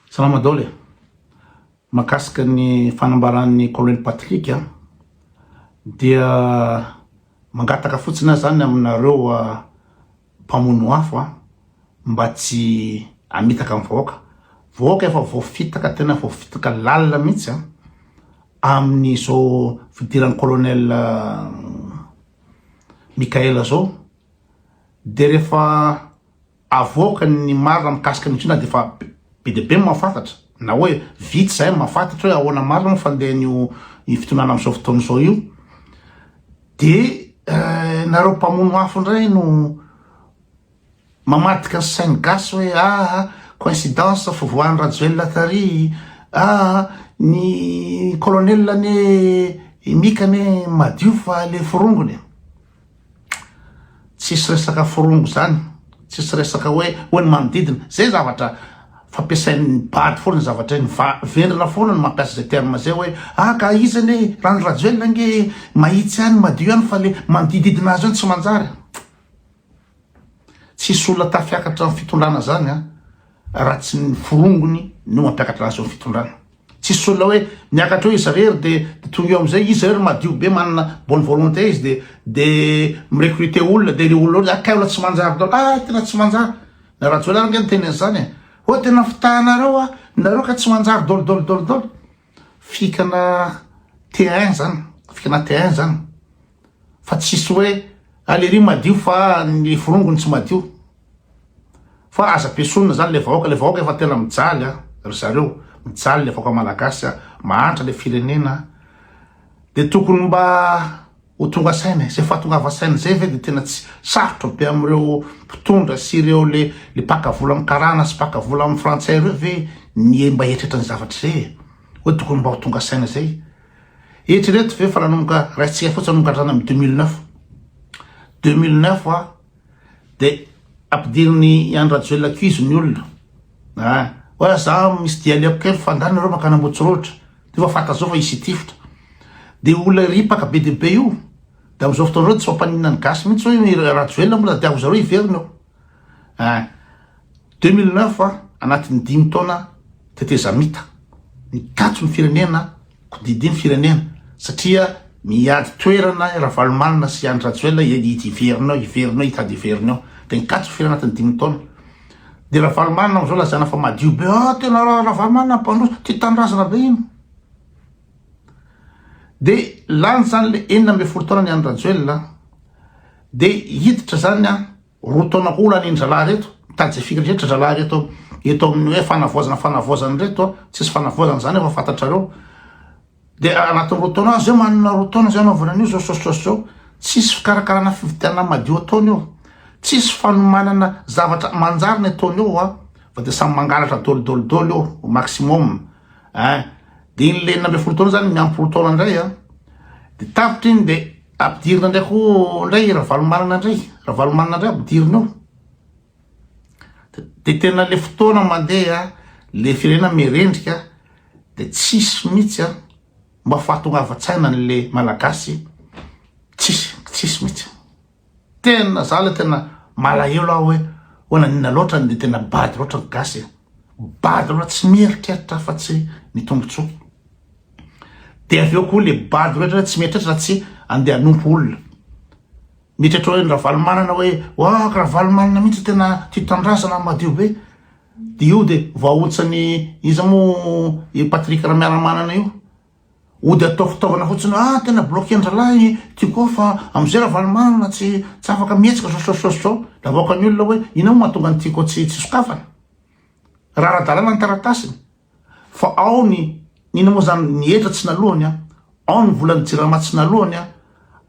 Salama Dôly a! Mahakasika ny fanambaran'ny Colonel Patrick a, dia mangataka fotsiny aho zany aminareo mpamono afo a, mba tsy hamitaka ny vahoaka, vahoaka efa voafitaka tena voafitaka lalina mihitsy a, amin'izao fidiran'ny Colonel Mickaël zao, de rehefa Avoaka ny marina mikasika an'io na dia efa be dia be ny mahafantatra, na hoe vitsy izay no mahafantatra hoe ahoana marina ny fandehan'io fitondrana amin'izao fotoana izao io, dia nareo mpamono afo indray no mamadika ny sain'ny gasy hoe aa, coïncidence, fivoahan'i Rajoelina tary, aa, ny colonel anie, i Mika anie madio fa lefy rongony e! Tsisy resaka forongo zany, tsisy resaka hoe hoy ny manodidina, zay zavatra fampiasain'ny bado foana zay zavatra iny, vendrana foana no mampiasa zay terme zay hoe ah ka iza anie e, raha ny Rajoelina ange mahitsy ihany, madio ihany fa le manodididina azy eo no tsy manjary. Tsisy olona tafiakatra ny fitondrana zany an, raha tsy ny forongony no mampiakatra azy eo ny fitondrana. Tsisy olona hoe miakatra eo izy irery de de tonga eo amizay izy irery madio be manana bonne volonté izy de de mi-recruter olona de le olona hoe akay olona tsy manjary daholo ah tena tsy manjary. Na Rajoelina ary nge niteny anizany e, oh tena fitahanareo an, nareo ka tsy manjary daholo daholo daholo daholo. fikana terrain zany fikana terrain zany fa tsisy hoe ah, le ry madio fa ny forongony tsy madio fa aza pesonina zany le vahoaka le vahoaka efa tena mijaly a ah, ry zareo mijaly le vahoaka malagasy a ah, mahantra le firenena de tokony mba Ho tonga saina izay fahatongava saina izay ve dia tena tsy sarotra be amin'ireo mpitondra sy ireo le le mpaka vola amin'ny karana sy mpaka vola amin'ny frantsay ireo ve ny mba hieritreritra ny zavatra izay e? Hoe tokony mba ho tonga saina izay. Eritrereto ve fa nanomboka raintsika fotsiny nanomboka hatrany amin'ny 2009. 2009 a dia ampidirin'i Andry Rajoelina cuise ny olona. Ah, hoe za misy dialogue kely fa angaha nareo mankany Ambohitsorohitra. Dia efa fantatra zao fa hisy hitifitra. Dia io olona ripaka be dia be io. Dia amin'izao fotoana izao dia tsy mampaninona ny gasy mihitsy hoe i Rajoelina moa tadiavo zareo hiverina eo. Eh, 2009 an, anatin'ny dimy taona tetezamita. Mikatso ny firenena, kodidia ny firenena satria miady toerana Ravalomanana sy Andry Rajoelina hiverina eo, hiverina eo, hitady hiverina eo. Dia nikatso ny firenena anatin'ny dimy taona. De Ravalomanana amzao lazaina fa madio be ah tena Ravalomanana mpandroso tia tanindrazana be iny de lany zany le enina ambin'ny folo taona ny any Rajoelina de hiditra zany a roa taona koa lany ndralahy reto mitady firy rehetra ndralahy reto eto amin'ny hoe fanavoazana fanavoazana reto tsisy fanavoazana zany efa fantatrareo De anaty roa taona any zay manana roa taona zay anaovana an'io zao sosososy zao, tsisy fikarakarana fividianana madio ataony eo, tsisy fanomanana zavatra manjary ny ataony eo an, fa de samy mangalatra dolidoly doly eo au maximum ein, de iny le enina ambin'ny folo taona zany miampy roa taona ndray an, de tapitra iny de ampidirina ndray koa ndray i Ravalomanana ndray, Ravalomanana ndray ampidirina eo. de tena le fotoana mandeha le firenena mirendrika de tsisy mihitsy a mba fahatongavan-tsaina an'le malagasy tsisy tsisy mihitsy tena za le tena malahelo aho hoe hoana nina loatra ny de tena bado loatra ny gasy e bado loatra tsy mieritreritra fa tsy ny tombontsoa de avy eo koa le bado rehetra tsy mieritreritra tsy andeha hanompo olona Miditra atao hoe ny Ravalomanana hoe wahh Ravalomanana mihitsy tena tia tanindrazana madio be de io de vahontsan'i iza moa i Patrick Ramiaramanana io ody atao fitaovana fotsiny hoe ah tena bloquer-ndralahy i Tiko ao fa am'zay Ravalomanana tsy tsy afaka mihetsika zao zao zao zao de avoakan'ny olona hoe inona moa mahatonga an'i Tiko tsy tsy sokafana raha ara-dalàna ny taratasiny Fa ao ny inona moa izany, ny hetra tsy nalohany an, ao ny volan'ny jirama tsy nalohany an,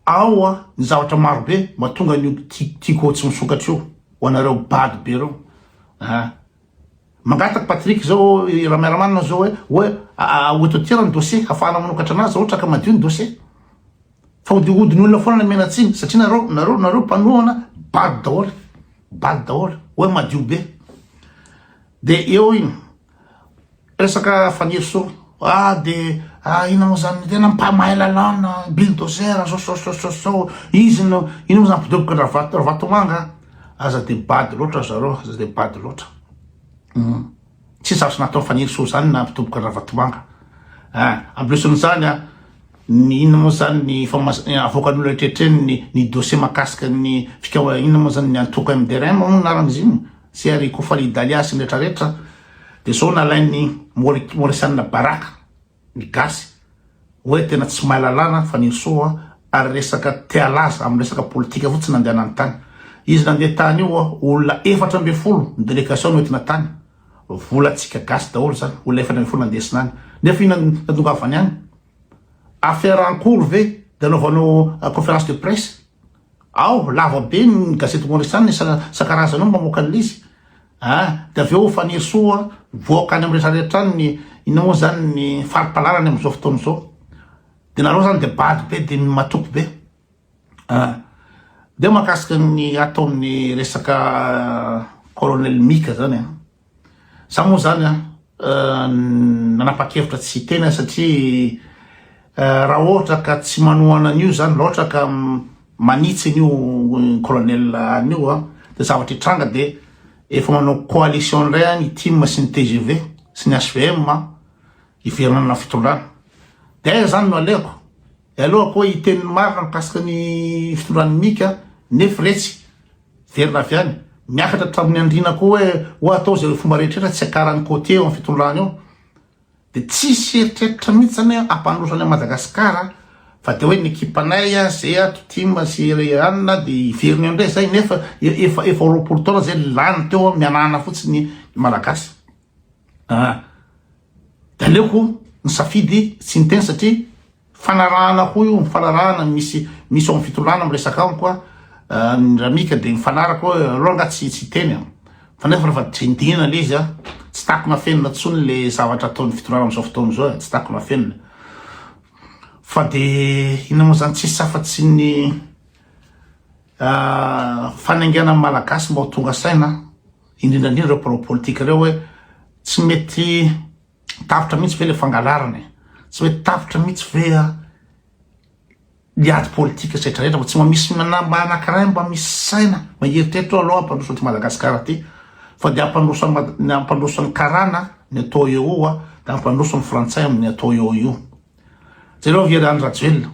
ao an ny zavatra maro be, mahatonga an'io tiako ho tsy misokatra io ho anareo bado be ireo an! Mangataka Patrick izao i Ramiaramanana izao hoe hoe aototiera ny dossier hahafahana manokatra anazy izao ohatra ka madio ny dossier. Fa hodihodin'ny olona foana ny menantsiny satria nareo nareo nareo mpanohana bado daholo, bado daholo hoe madio be. Dia eo iny resaka Fanirisoa, ah dia ah ina moa zany tena mpamahay lalàna, bulldozer, zosososososoo, izy no, ina moa zany mpidoboka andravato, Ravatomanga an, aza dia bado loatra ry zareo, aza dia bado loatra, humm, tsy zavatra nataon'i Fanirisoa zany ny nampidoboka an'Ravatomanga an, en plus an'izany an, ny inona moa zany ny famoas- avoakan'ny olona rehetra eny ny dossier mahakasika ny fikaoha- inona moa zany ny antoko MDRM moa no anaran'izy iny, Tsy ary Kofal i Dalia sy ny rehetra rehetra dia zao nalain'ny Mauritiana baraka ny gasy hoe tena tsy mahay lalàna fa Nirsoa ary resaka te halaza amin'ny resaka politika fotsiny nandehanany tany. Izy nandeha tany io olona efatra ambin'ny folo ny delegation noentina tany. Volantsika gasy daholo zany olona efatra ambin'ny folo nandesina any. Nefa io natongavany any? Affaire en cours ve dia anaovanao conférence de presse? Ao lava be ny gazety Maurice ny isan-karazany ao mamoaka an'ilay izy a! Dia avy eo Fanirisoa mivoaka any amin'ny rehetra rehetra any ny inona moa izany ny fari-pahalalany amin'izao fotoana izao. Dia nareo izany dia bado be dia matoky be a! Dia mahakasika ny ataon'ny resaka Colonel Mika izany a! Za moa zany an, nanapa-kevitra tsy hiteny aho satria raha ohatra ka tsy manohana an'io zany, raha ohatra ka manitsy an'io colonel an'io an, de zavatra hitranga de efa manao coalition indray an ny tim sy ny tgv sy ny HVM an, hiverina amina fitondrana. De aiza zany no aleko? De aleoko hoe hiteny ny marina mikasika ny fitondran'i Mika nefa retsy Miverina avy any, miakatra hatramin'ny andriana koa hoe ho atao izay fomba rehetra tsy hiakaran'ny côtier eo amin'ny fitondrana eo. Dia tsisy eritreritra mihitsy izany hoe hampandroso any amin'i Madagasikara fa dia hoe ny ekipanay zay ato tim sy anona dia hiverina eo indray izay nefa efa efa roapolo taona izay lany teo mianahana fotsiny ny Malagasy. Ah. Dia aleoko nisafidy tsy niteny satria Fanarahana hoy o, fanarahana misy misy ao am fitondràna miresaka amiko a, ny ramika de mifanaraka hoe aleo nga tsy tsy hiteny a, fa nefa refa dindina le izy a, tsy takona afenina tsony le zavatra ataony fitondràna amzao fotoana zao e, tsy takona afenina, fa de inona mo zany tsisy afa tsy ny a fanainganany malagasy mba ho tonga saina indrindra indrindra reo mpanao politika reo hoe tsy mety Tapitra mihitsy ve le fangalarana e? Tsy mety tapitra mihitsy ve a? Ny ady politika setra rehetra fa tsy mba misy mba anankiray mba misy saina mba hieritreritra aloha hampandroso an'ity Madagasikara ty fa dia hampandroso ny hampandroso ny karana ny atao eo a dia hampandroso ny frantsay amin'ny atao eo io. Jereo avy ery Andry Rajoelina.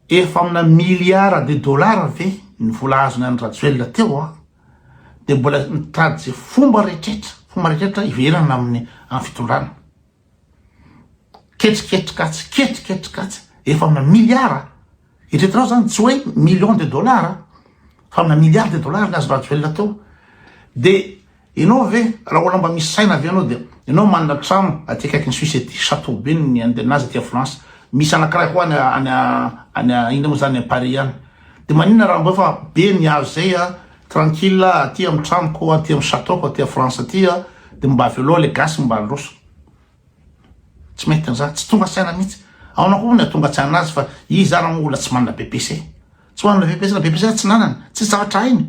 Efa amina miliara de dollars ve ny vola azony Andry Rajoelina teo a? dia mbola mitady izay fomba rehetra fomba rehetra hiverana amin'ny amin'ny fitondrana. Ketriketrika atsy, ketriketrika atsy, efa amina miliara. Eritreretinao zany tsy hoe million de dollars fa amina miliara de dollars ny azo rajoelina teo. Dia ianao ve raha olona mba misy saina ve ianao dia ianao manana trano aty akaikin'ny Suisse aty chateau be ny andenazy aty Aflance. Misy anankiray koa any any inona moa zany Paris any. De maninona raha ambeo fa be ny azo zay a, tranquille a, aty am tranoko, aty am chateau-ko aty a France aty a, de mba avy aloha le gasy mba handroso. Tsy mety an'zany, tsy tonga saina mihitsy. Aona koa moa ny atonga tsaina azy fa izy zany angamba olona tsy manana BPC. Tsy manana BPC na BPC tsy nanana, tsisy zavatra hainy.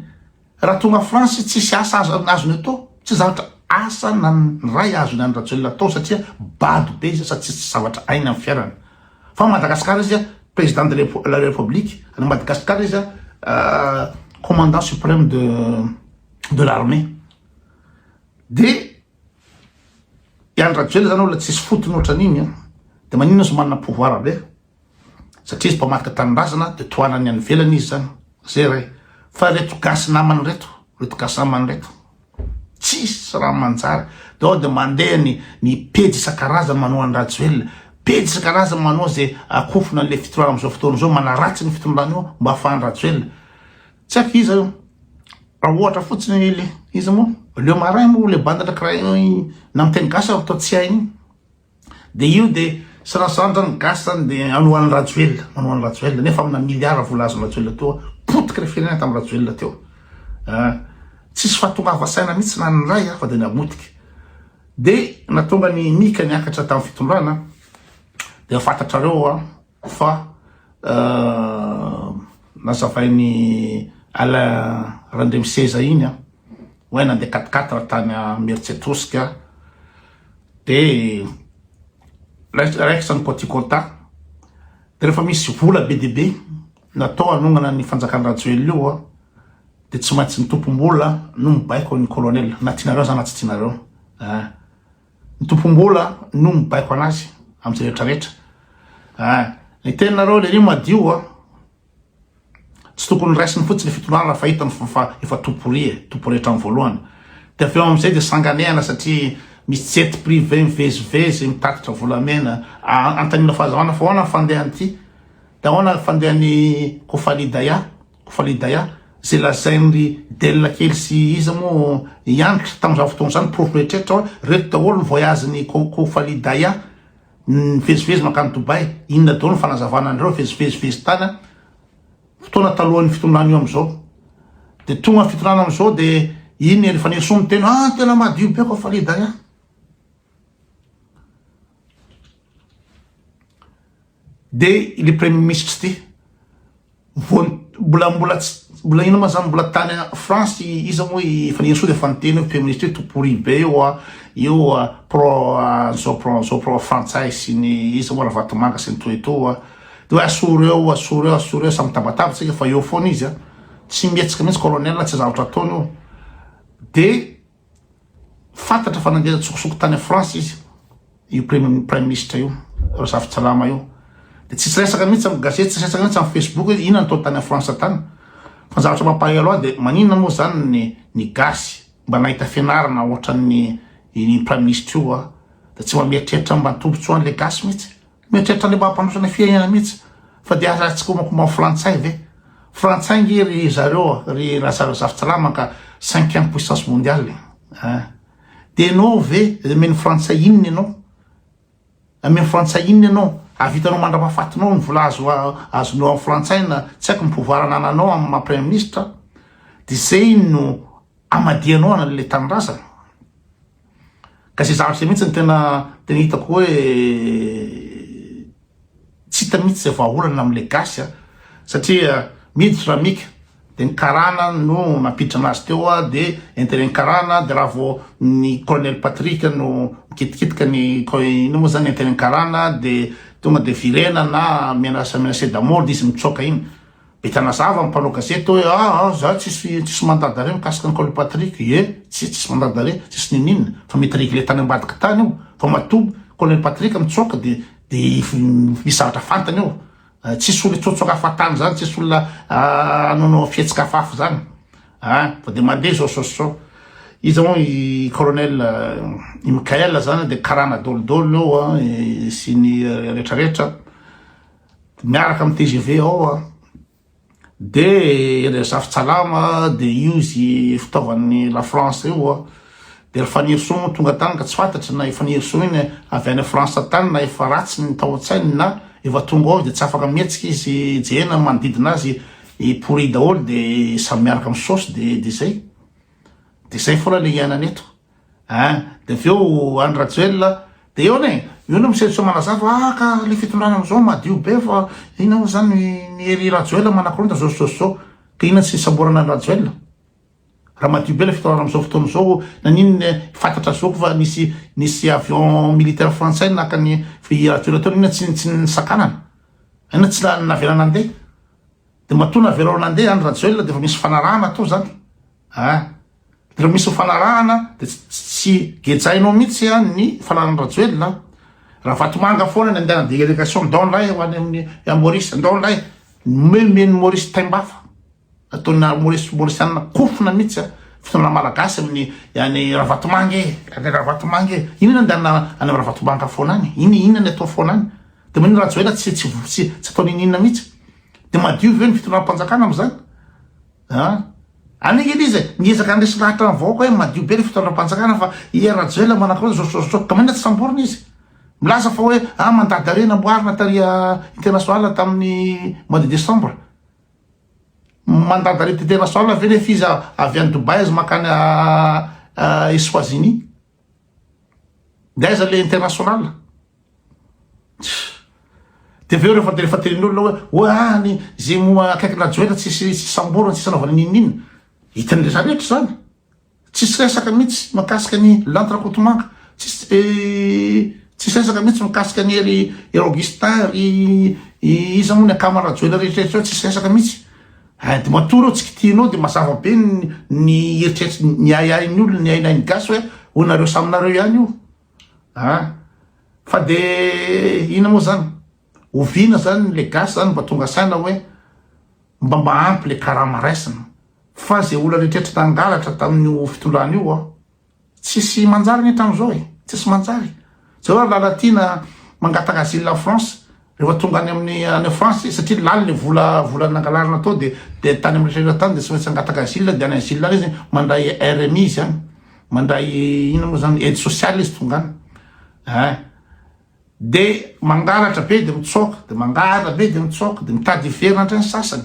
Raha tonga France tsisy asa azony azony atao, tsy zatra asa na ny ray azony any Rajoelina atao satria bado be izy sady tsisy zavatra ainy am fiairana. Fa Madagascar izy President de la Republique any Madagascar izy Commandant supreme de de l'armée. De i Andry Rajoelina zany olona tsisy fotony otran'iny an! De maninona izy manana pouvoir be? satria izy mpamadika tanindrazana de tohanan'ny any ivelany izy zany zay re fa reto gasy namany reto reto gasy namany reto tsisy raha manjary de ao de mandeha ny ny pejy isan-karazany manao an'i Rajoelina pejy isan-karazany manao zay akofona an'le fitondrana am'zao fotoana zao manaratsy ny fitondrana io mba afahan'i Rajoelina tsy haiko iza io raha ohatra fotsiny le iza moa le marin moa le bande de crayon na miteny gasy aho toa tsy hainy De io de serasantra ny gasy zany de anohan'ny rajoelina manohan'ny rajoelina nefa amina miliara vola azon'ny rajoelina teo potika le firenena tamin'ny rajoelina teo ah, tsisy fahatongava saina mihitsy na ny ray afa de namotika de natonga ny mika niakatra tamin'ny fitondrana de fantatrareo a Fa nazavain'i Alain Randriamiseza iny an, hoe nandeha quatre quatre tany Imeritsiatrosika dia raikitra ny Petit Kota, dia rehefa misy vola be dia be natao hanongana ny fanjakan'i Rajoelina io an, dia tsy maintsy ny tompom-bola no mibaiko ny Colonel, na tianareo aza na tsy tianareo an. Ny tompom-bola no mibaiko anazy amin'ny rehetra rehetra. Ah, ny teninareo le io madio ah. Tsy tokony raisiny fotsiny fitondrana raha fahitany fa efa toporia, eh, topo rehetra amin'ny voalohany. Dia avy eo amin'izay dia sanganehana satria misy jet privé mivezivezy mitatitra volamena. Ah, antanina fahazavana fa ahoana ny fandehan'ity? Dia ahoana ny fandehan'ny Kofalidaya? Fa le Daya ze lazain ry Del kely sy iza mo iany kry tam zany fotoana zany porofo rehetrertra oa reto daholo ny voyage ny coco fa le Daya nivezivezy mankany Dubai inona daholo ny fanazavana anareo vezivezivezy tany an fotoana talohan'ny fitondrana io amizao de tonga ny fitondrana amizao de iny ry Fanirisoa miteny ah tena madio be ko fa le Daya. Dia ilay Praiminisitra ity, vao mbola mbola tsy mbola inona ma zany mbola tany France iza moa i Fanirisoa dia efa niteny hoe Praiminisitra hoe tout pourri be io a, io pro an'izao pro an'izao, pro frantsay sy ny iza moa Ravatomanga sy ny toa etoa a. Dia hoe asoro eo, asoro eo, asoro eo, samy mitabataba isika fa eo foana izy a. Tsy mihetsika mihitsy Colonel, tsy zavatra ataony io. Dia. Fantatra fa nandeha an-tsokosoko tany France izy, io Praiminisitra io, Razafintsalama io. Dia tsisy resaka mihitsy amin'ny gazety, tsisy resaka mihitsy amin'ny Facebook hoe inona no nataony tany France tany. Fa ny zavatra mampahery ahy dia maninona moa izany ny ny gasy mba nahita fianarana ohatran'ny iny Praiminisitra io dia tsy mba mieritreritra mba ny tombontsoan'ilay gasy mihitsy. Mieritreritra le mampandroso fiainana mihitsy fa dia aza tsy komakomao frantsay ve? Frantsay nge ry zareo ry Razafijalama ka cinquième puissance mondiale eh! Dia enao ve amen'ny frantsay inona enao? Amen'ny frantsay inona enao? Avitanao mandrapafatinao ny vola azo azonao amin'ny frantsay na tsy haiko ny pouvoir anananao amin'ny maha premier ministre dia zay no amadihanao an'le tanindrazana. Ka izay zavatra izay mihitsy no tena tena hitako hoe tsy hita mihitsy izay vahaolana amin'ilay gasy a, satria miditra ramika dia ny karana no nampiditra anazy teo a, dia interet-n'ny karana, dia raha vao ny colonel Patrick no mikitikitika ny inona moa izany interet-n'ny karana dia tonga dia virena na menacé menacé de mort dia izy mitsoaka iny. Be tanazava ny mpanao gazety hoe ah ah za tsisy tsisy mandat d'arret mikasika an'i Kaoly Patrick eh tsia tsisy mandat d'arret tsisy ninoninona fa mety regle tany ambadika tany io fa matoa Colonel Patrick mitsoaka de de misy zavatra fantany eo tsisy olona hitsoatsoaka hafatany zany tsisy olona hanaonao fihetsika hafahafa zany ah fa de mandeha zao sao sao iza moa i colonel i Michael zany de karana dôlidôly eo sy ny retraretra miaraka am tgv ao a de ry zafitsalama de io zy fitaovan'ny la France io a de ry fanirisoa moa tonga tany ka tsy fantatry na i fanirisoa iny avy any France tany na efa ratsy ny tao an-tsainy na efa tonga ao izy de tsy afaka mihetsika izy jerena ny manodidina azy i pourri daholo de samy miaraka misaosy de de zay de zay foana le iainana eto Hein, de avy eo Andry Rajoelina, de eo anie, eo no misesoseho manazava, ah ka le fitondrana amzao madio be fa inona mo zany ny hery Rajoelina manakorontana zao sy zao sy zao, ka inona tsy samborana an'i Rajoelina, raha madio be le fitondrana amzao fotoana zao, naninona fatatra zao fa nisy nisy avion militaire frantsay naka an'i i Rajoelina teo, inona tsy tsy nisakanana, inona tsy navelana nandeha, de matoa navelao nandeha Andry Rajoelina de efa misy fanarahana atao zany. A, Raha misy fifanarahana dia tsy gejainao mihitsy an ny fananan'i Rajoelina an! Ravatomanga foana ny andehanan'ny délégation ndao indray ho any amin'ny Maurice, ndao indray nomen'i Maurice taimbafa, nataon'i Maurice Mauricianina kofona mihitsy an, fitondrana malagasy amin'ny an'i Ravatomanga e! an'i Ravatomanga e! inona andehanana any amin'ny Ravatomanga foana any? iny inona ny atao foana any? dia maninona Rajoelina tsy tsy tsy ataony iny inona mihitsy? dia madio ve ny fitondram-panjakana amin'izany? An! Anio nge izy miezaka handresy lahatra ny vahoaka hoe madio be ny fitondram-panjakana fa i Hery Rajoelina manakoroa ny zotrozotro ka maninona tsy samborina izy? Milaza fa hoe an mandady dare namboarina tary international tamin'ny mois de décembre. Mandady dare international ve nefa izy avy any Dubaï aza mankany Eswazini? De aiza le international? De avy eo rehefa de rehefa tenenin'olona hoe oa ah ny ze mo akaikina joelina tsisy tsisy samborana tsisy anaovana n'inon'inona. Hitan'ny rehetra rehetra zany. Tsisy resaka mihitsy makasika ny lanto rakotomanga. Tsisy tsisy resaka mihitsy mikasika ny ry ry Augustin ry iza mo ny akama rajoelina rehetra rehetra reo tsisy resaka mihitsy. Hein de matoa reo tsy kitihinao de mazava be ny eritreritra ny ahiahin'ny olona ny hainahin'ny gasy hoe ho nareo samy nareo ihany io an fa de ina moa zany oviana zany le gasy zany mba tonga saina hoe mba mba ampy le karama raisina fa ze olona eritreritra nangalatra tamin'io fitondrana io an Tsisy manjary ny hatramin'izao e! Tsisy manjary! Zao ary Lalatiana mangataka asile en France rehefa tonga any amin'ny any France izy satria lany le vola vola nangalarina tao de de tany amin'ny rehetra tany de tsy maintsy hangataka asile de any asile any izy mandray RMI izy any mandray inona moa zany aide sociale izy tonga any eh de mangalatra be de mitsoaka de mangalatra be de mitsoaka de mitady hiverina hatrany sasany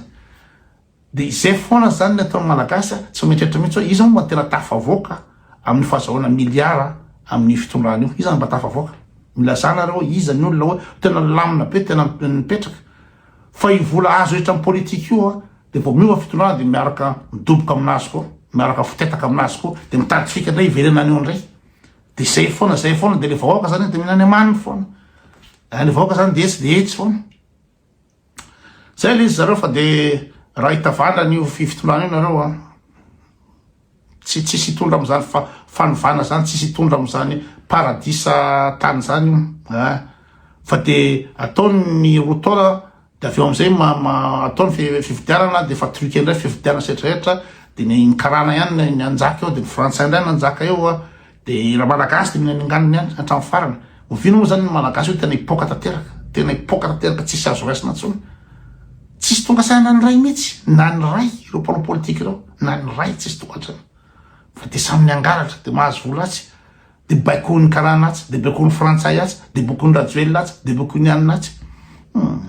Dia izay foana izany ny ataon'ny Malagasy a! Tsy mieritreritra mihitsy hoe iza moa mba tena tafavoaka amin'ny fahazahoana miliara amin'io fitondrana io? Iza no mba tafavoaka? Milazà nareo hoe iza ny olona hoe tena nilamina be, tena nipetraka? Fa io vola azo rehetra amin'ny politika io a! Dia vao miova fitondrana dia miaraka midoboka amin'azy koa, miaraka mifotetaka amin'azy koa, dia mitady fika indray hiverenany eo indray. Dia izay foana, izay foana, dia ilay vahoaka izany dia mihinana amaniny foana. Ilay vahoaka izany dia etsy dia etsy foana. Zay le izy zareo fa de raha hitavana an'io fivitolana io nareo an, tsy tsisy hitondra am'zany fa fanovana zany tsisy hitondra am'zany paradisa tany zany io an, fa de ataony ny roa taona de avy eo am'zay ma ma ataony fi fifidianana de fa truquer ndray fifidianana sy retraretra de ny karana ihany ny hanjaka eo de ny frantsay ndray no hanjaka eo an, De ra malagasy de mila minganina ihany hatramin'ny farany. Oviana moa zany ny malagasy hoe tena hipoaka tanteraka, tena hipoaka tanteraka tsisy azo raisina intsony. Tsisy tonga saina na ny ray mihitsy, na ny ray ireo mpanao politika ireo, na ny ray tsisy tonga antrana. Fa de samy miangalatra, de mahazo vola atsy, de baikoin'ny karana atsy, de baikoin'ny frantsay atsy, de baikoin'ny rajoelina atsy, de baikoin'ny anona atsy. Hmm.